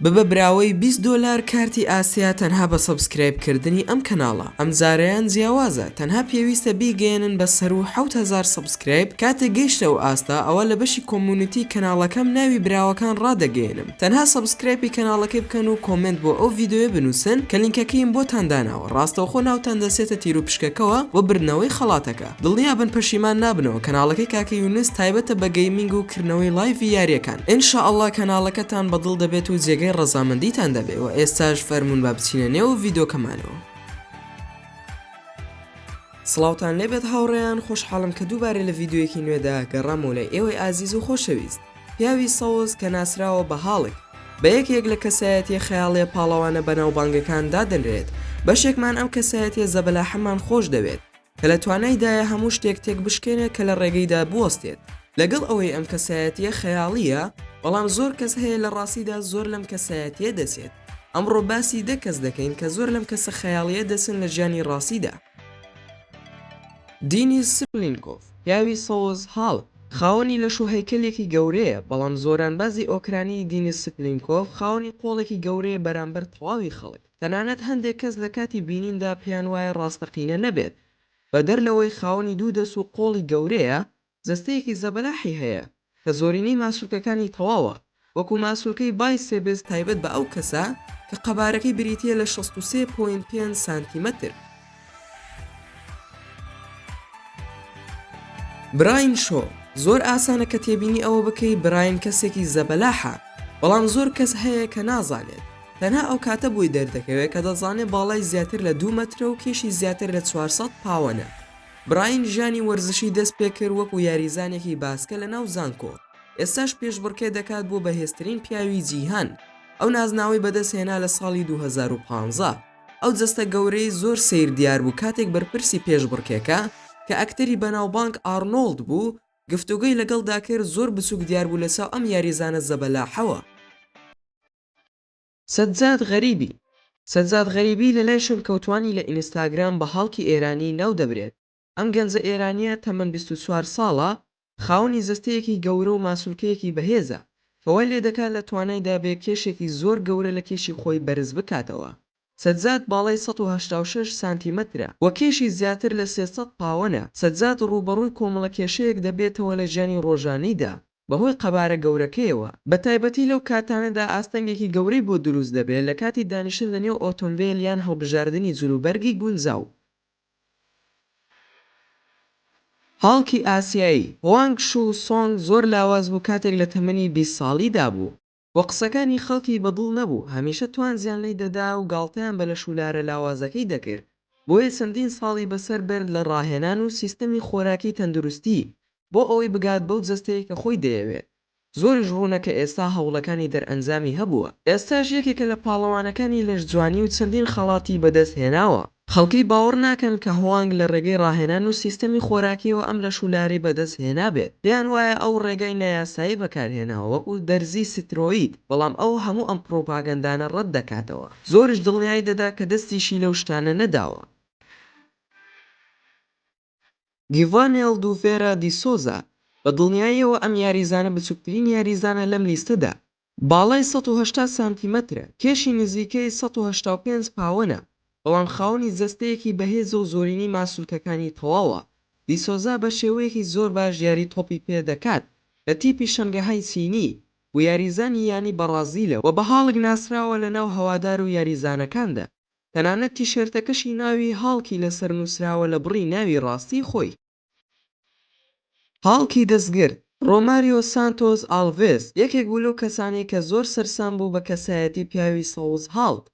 ببە براوەی 20 دلار کارتی ئاسیا تەنها بە سەبسکرایب کردنی ئەم کەناڵە ئەم زارەیان جیاوازە تەنها پێویستە بیگەێنن بە سەر و 1970 کرێپ، کاتێک گەیشتە ئەو ئاستە ئەوا لە بەشی کۆمونیتی کەناڵەکەم ناوی براوەکان ڕادەگەیەنم تەنها سەبسکرایپی کەناڵەکەی بکەن و کۆمێنت بۆ ئەو ڤیدۆیە بنوسن کە لینکەکەیم بۆتان داناوە ڕاستەوخۆ ناوتان دەچێتە تیروپشکەکەوە بۆ بردنەوەی خەڵاتەکە دڵنیابن پەشیمان نابنەوە کەناڵەکەی کاکە یونس تایبەتە بە گەیمینگ و کردنەوەی لایڤی یاریەکان ان شاء اللە کەناڵەکەتان بە دڵ دەبێت و جێگەی ڕەزامەندیتان دەبێ وە ئێستاش فەرموون با بچینە نێو ڤیدۆکەمانەوە. سڵاوتان لێبێت هاوڕێیان خۆشحاڵم کە دووبارە لە ڤیددیوەکی نوێدا گەڕامەوە لای ئێوەی ئازیز و خۆشەویست پیاوی سەوز کە ناسراوە بە هاڵک بە یەکێک لە کەسایەتیە خەیاڵیە پاڵەوانە بەناوبانگەکان دادەنرێت بەشێکمان ئەم کەسایەتیە زەبەلاحەمان خۆش دەوێت کە لە توانایدایە هەموو شتێک تێکبشکێنێت کە لە ڕێگەیدا بوەستێت لەگەڵ ئەوەی ئەم کەسایەتیە خەیاڵیە بەڵام زۆر کەس هەیە لە ڕاستیدا زۆر لەم کەسایەتیە دەچێت. ئەمڕۆ باسی دە کەس دەکەین کە زۆر لەم کەسە خەیاڵییە دەچن لە ژیانی ڕاستیدا. دینیز سپلینکۆڤ، پیاوی سەوز هاڵ، خاوەنی لەش و هەیکەلێکی گەورەیە، بەڵام زۆرانبازی ئۆکرانی دینیز سپلینکۆڤ خاوەنی قۆڵێکی گەورەیە بەرامبەر تەواوی خەڵک، تەنانەت هەندێک کەس لە کاتی بینیندا پێیان وایە ڕاستەقینە نەبێت، بەدەر لەوەی خاوەنی دوو دەست و قۆڵی گەورەیە، جەستەیەکی زەبەلاحی هەیە کە زۆرینەی ماسولکەکانی تەواوە، وەکو ماسولکەی بای سێبز تایبەت بە ئەو کەسە کە قەبارەکەی بریتییە لە شەست و سێ پۆینت پێنج سانتیمەتر. براین شۆ، زۆر ئاسانە کە تێبینی ئەوە بکەی براین کەسێکی زەبەلاحە، بەڵام زۆر کەس هەیە کە نازانێت، تەنها ئەو کاتە بۆی دەردەکەوێت کە دەزانێت باڵای زیاتر لە دوو مەترە و کێشی زیاتر لە چوار سەد پاوەنە. براین ژیانی وەرزشی دەست پێکرد وەکو یاریزانێکی باسکە لە ناو زانکۆ، ئێستاش پێشبڕکێ دەکات بۆ بەهێزترین پیاوی جیهان، ئەو نازناوەی بەدەست هێنا لە ساڵی دوو هەزار و پازدە، ئەو جەستە گەورەی زۆر سەیر دیار بوو کاتێک بەرپرسی پێشبڕکێکە کە ئەکتەری بەناوبانگ ئارنۆڵد بوو گفتوگۆی لەگەڵدا کرد زۆر بچوک دیار بوو لەچاو ئەم یاریزانە زەبەلاحەوە. سەجاد غەریبی سەجاد غەریبی لەلای شەلکەوتوانی لە ئینستاگرام بە هاڵکی ئێرانی ناو دەبرێت، ئەم گەنجە ئێرانییە تەمەن بیست و چوار ساڵە خاوەنی جەستەیەکی گەورە و ماسولکەیەکی بەهێزە کە وای لێدەکات لە توانایدا بێ کێشێکی زۆر گەورە لە کێشی خۆی بەرز بکاتەوە سەجاد باڵای سەد و هەشتا و شەش سانتیمەترە و کێشی زیاتر لە سێ سەد پاوەنە، سەجاد ڕووبەڕووی کۆمەڵە کێشەیەک دەبێتەوە لە ژیانی ڕۆژانەیدا، بەهۆی قەبارە گەورەکەیەوە، بەتایبەتی لەو کاتانەدا ئاستەنگێکی گەورەی بۆ دروست دەبێت لە کاتی دانیشتن لە نێو ئۆتۆمبێل یان هەڵبژاردنی جلوبەرگی گونجاو. هاڵکی ئاسیایی، هوانگ شوو سۆنگ زۆر لاواز بوو کاتێک لە تەمەنی بیست ساڵیدا بوو. و قسەکانی خەڵکی بە دڵ نەبوو، هەمیشە توانجیان لی دەدا و گاڵتەیان بە لەشولارە لاوازەکەی دەکرد، بۆیە چەندین ساڵی بەسەر برد لە ڕاهێنان و سیستەمی خۆراکی تەندروستی بۆ ئەوەی بگات بەو جەستەی کە خۆی دەیەوێت، زۆریش ڕوونە کە ئێستا هەوڵەکانی دەرئەنجامی هەبووە. ئێستاش یەکێکە لە پاڵەوانەکانی لەشجوانی و چەندین خەڵاتی بەدەست هێناوە. خەڵکی باوەڕ ناکەن کە هوانگ لە ڕێگەی ڕاهێنان و سیستەمی خۆراکییەوە ئەم لەش و لارەی بەدەست هێنابێت، پێیان وایە ئەو ڕێگای نایاسایی بەکارهێناوە وەکو دەرزی سترۆید، بەڵام ئەو هەموو ئەم پڕوپاگەندانە ڕەت دەکاتەوە، زۆریش دڵنیای دەدا کە دەستیشی لەو شتانە نەداوە. گیڤان ئێلدوڤێرا دی سۆزا، بە دڵنیاییەوە ئەم یاریزانە بچووکترین یاریزانە لەم لیستەدا، باڵای سەد و هەشتا سانتیمەترە، کێشی نزیکەی سەد و هەشتا و پێنج پاوەنە، بەڵام خاوەنی جەستەیەکی بەهێزە و زۆرینەی ماسولکەکانی تەواوە، دی سۆزا بە شێوەیەکی زۆر باش یاری تۆپی پێ دەکات لە تیپی شەنگەهای چینی و یاریزانی یانی بەڕازیلە و بە هاڵک ناسراوە لەناو هەوادار و یاریزانەکاندا. تەنانەت تیشێرتەکەشی ناوی هاڵکی لەسەر نووسراوە لە بڕی ناوی ڕاستیی خۆی. هاڵکی دەستگر، ڕۆماریۆ سانتۆس ئاڵڤێس، یەکێک بوو لەو کەسانەی کە زۆر سەرسام بوو بە کەسایەتی پیاوی سەوز هاڵک،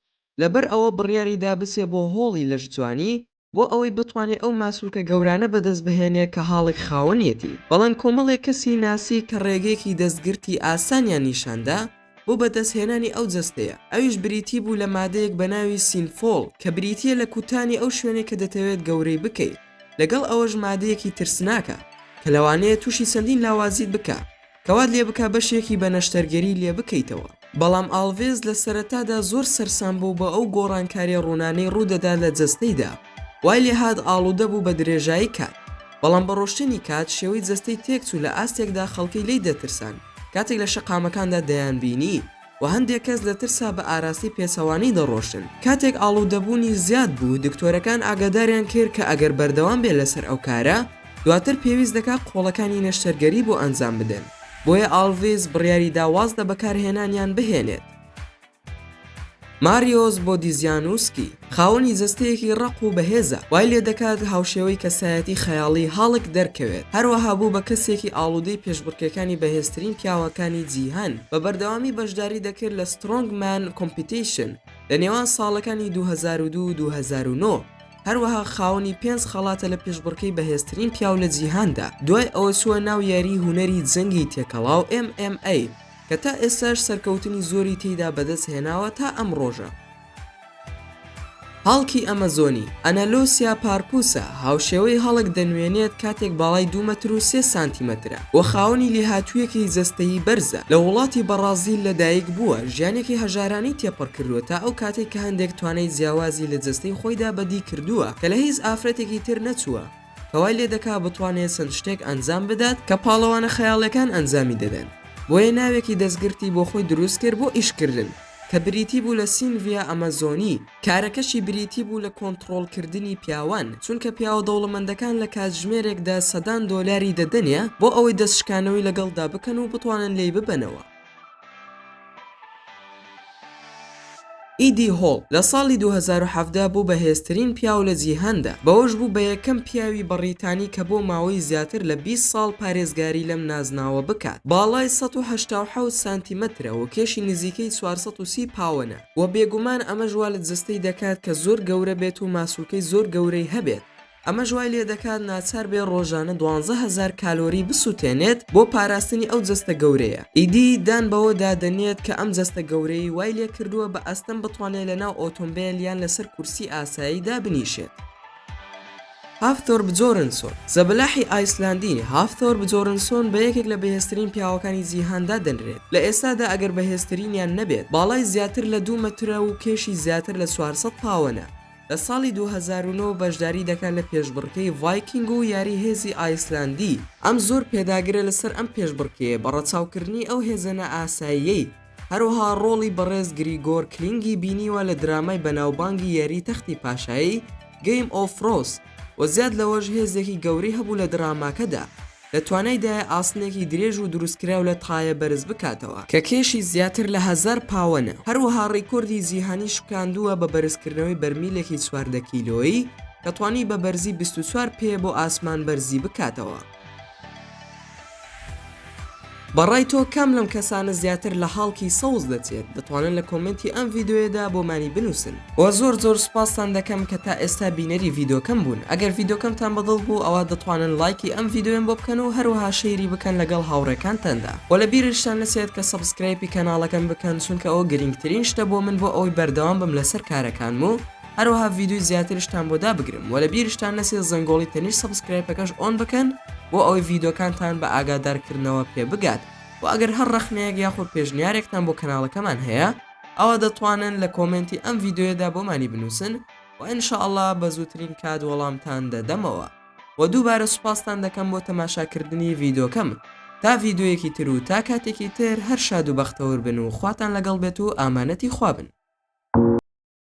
لەبەر ئەوە بڕیاری دا بچێ بۆ هۆڵی لەشجوانی، بۆ ئەوەی بتوانێ ئەو ماسولکە گەورانە بەدەست بهێنێ کە هاڵک خاوەنیەتی، بەڵام کۆمەڵێک کەسی ناسی کە ڕێگەیەکی دەستگرتی ئاسانیان نیشان دا بۆ بەدەست هێنانی ئەو جەستەیە، ئەویش بریتی بوو لە مادەیەک بە ناوی سینفۆڵ کە بریتیە لە کوتانی ئەو شوێنەی کە دەتەوێت گەورەی بکەی، لەگەڵ ئەوەش مادەیەکی ترسناکە کە لەوانەیە توشی چەندین لاوازیت بکا. کەوات لێ بکە بەشێکی بە نەشتەرگەری لێ بکەیتەوە. بەڵام ئاڵڤێس لە سەرەتادا زۆر سەرسام بوو بە ئەو گۆڕانکاریە ڕوونانەی ڕوودەدا لە جەستەیدا، وای لێ هات ئاڵوودە بوو بە درێژایی کات، بەڵام بە ڕۆشتنی کات شێوەی جەستەی تێکچوو لە ئاستێکدا خەڵکی لێی دەترسان کاتێک لە شەقامەکاندا دەیانبینی. و هەندێک کەس لە ترسا بە ئاراستەی پێچەوانەی دەڕۆشتن. کاتێک ئاڵودەبوونی زیاد بوو، دکتۆرەکان ئاگاداریان کرد کە ئەگەر بەردەوام بێت لەسەر ئەو کارە، دواتر پێویست دەکات قۆڵەکانی نەشتەرگەری بۆ ئەنجام بدەن، بۆیە ئاڵڤیس بڕیاری دا واز لە بەکارهێنانیان بهێنێت. ماریۆس بۆدیزیانوسکی. خاوەنی جەستەیەکی ڕەق و بەهێزە، وای لێدەکات هاوشێوەی کەسایەتی خەیاڵی هاڵک دەرکەوێت، هەروەها بوو بە کەسێکی ئاڵودەی پێشبڕکێکانی بەهێزترین پیاوەکانی جیهان، بە بەردەوامی بەشداری دەکرد لە سترۆنگ مان کۆمپیتیشن لە نێوان ساڵەکانی دوو هەزار و دوو و دوو هەزار و نۆ، هەروەها خاوەنی پێنج خەڵاتە لە پێشبڕکێی بەهێزترین پیاو لە جیهاندا، دوای ئەوە چووە ناو یاریی هونەری جەنگی تێکەڵاو MMA کە تا ئێستاش سەرکەوتنی زۆری تێیدا بەدەست هێناوە تا ئەم ڕۆژە. هاڵکی ئەمەزۆنی، Analosia parpusa، هاوشێوەی هاڵک دەنوێنێت کاتێک باڵای دوو مەتر و سێ سانتیمەترە و خاوەنی لێهاتوویەکی جەستەیی بەرزە، لە وڵاتی بەڕازیل لەدایکبووە، ژیانێکی هەژارانەی تێپەڕکردووە تا ئەو کاتەی کە هەندێک توانای جیاوازی لە جەستەی خۆیدا بەدیکردووە کە لە هیچ ئافرەتێکی تر نەچووە. کە وای لێ دەکا بتوانێت چەند شتێک ئەنجام بدات کە پاڵەوانە خەیاڵیەکان ئەنجامی دەدەن بۆیە ناوێکی دەستگرتی بۆ خۆی دروست کرد بۆ ئیشکردن کە بریتی بوو لە سینڤیا ئەمەزۆنی کارەکەشی بریتی بوو لە کۆنتڕۆڵکردنی پیاوان چونکە پیاوە دەوڵەمەندەکان لە کاتژمێرێکدا سەدان دۆلاری دەدەنێ بۆ ئەوەی دەستشکانەوەی لەگەڵدا بکەن و بتوانن لێی ببەنەوە. ئیدی هۆڵ لە ساڵی دوو هەزار و حەڤدە بوو بە هێزترین پیاو لە جیهاندا، بەوەش بوو بە یەکەم پیاوی بەڕیتانی کە بۆ ماوەی زیاتر لە بیست ساڵ پارێزگاری لەم نازناوە بکات، باڵای سەد و هەشتا و حەوت سانتیمەترە و کێشی نزیکەی چوار سەد و سی پاوەنە و بێگومان ئەمەش وا لە جەستەی دەکات کە زۆر گەورە بێت و ماسولکەی زۆر گەورەی هەبێت، ئەمەش وای لێدەکات ناچار بێت ڕۆژانە دوانزە هەزار کالۆری بسووتێنێت بۆ پاراستنی ئەو جەستە گەورەیە، ئیدی دان بەوەدا دەنێت کە ئەم جەستە گەورەی وای لێکردووە بە ئەستەم بتوانێت لەناو ئۆتۆمبێل یان لەسەر کورسی ئاسایی دابنیشێت. هافتۆر بجۆرنسۆن، زەبەلاحی ئایسلاندی، هافتۆر بجۆرنسۆن بە یەکێک لە بەهێزترین پیاوەکانی جیهان دادەنرێت، لە ئێستادا ئەگەر بەهێزترینیان نەبێت، باڵای زیاتر لە دوو مەترە و کێشی زیاتر لە چوار سەد پاوەنە. لە ساڵی دوو هەزار و نۆ بەشداری دەکات لە پێشبڕکێی ڤایکینگ و یاری هێزی ئایسلەندی، ئەم زۆر پێداگرە لەسەر ئەم پێشبڕکێیە بە ڕەچاوکردنی ئەو هێزە نائاساییەی، هەروەها ڕۆڵی بەڕێز گریگۆر کلینگی بینیوە لە درامای بەناوبانگی یاری تەختی پاشایی، Game of Thrones، و زیاد لەوەش هێزێکی گەورەی هەبوو لە دراماکەدا. لە توانایدایە ئاسنێکی درێژ و دروستکراو لە تایە بەرز بکاتەوە، کە کێشی زیاتر لە هەزار پاوەنە، هەروەها ڕیکۆردی جیهانی شکاندووە بە بەرزکردنەوەی بەرمیلێکی چواردە کیلۆیی، کە توانی بە بەرزی بیست و چوار پێ بۆ ئاسمان بەرزی بکاتەوە. بە ڕای تۆ کام لەم کەسانە زیاتر لە هاڵکی سەوز دەچێت دەتوانن لە کۆمێنتی ئەم ڤیدۆیەدا بۆمانی بنووسن وە زۆر زۆر سوپاستان دەکەم کە تا ئێستا بینەری ڤیدۆکەم بوون ئەگەر ڤیدۆکەمتان بەدڵ بوو ئەوا دەتوانن لایکی ئەم ڤیدۆیەم بۆ بکەن و هەروەها شەیری بکەن لەگەڵ هاوڕێکانتاندا وە لە بیرشتان نەچێت کە سەبسکرایپی کەناڵەکەم بکەن چونکە ئەوە گرینگترین شتە بۆ من بۆ ئەوەی بەردەوام بم لەسەر کارەکانم و هەروەها ڤیدیۆی زیاترشتان بۆ دابگرم وە لە بیرشتان نەچێت زەنگۆڵی تەنیشت سەبسکرایپەکەش ئۆن بکەن بۆ ئەوەی ڤیدۆکانتان بە ئاگادارکردنەوە پێ بگات و ئەگەر هەر ڕەخنەیەک یاخۆ پێشنیارێکتان بۆ کەناڵەکەمان هەیە ئەوا دەتوانن لە کۆمێنتی ئەم ڤیدیۆیەدا بۆمانی بنووسن و ان شاء اللە بە زووترین کات وەڵامتان دەدەمەوە و دووبارە سوپاستان دەکەم بۆ تەماشاکردنی ڤیدۆکەم تا ڤیدۆیەکی تر و تا کاتێکی تر هەر شاد و بەختەور بن و خواتان لەگەڵ بێت و ئامانەتی خوا بن.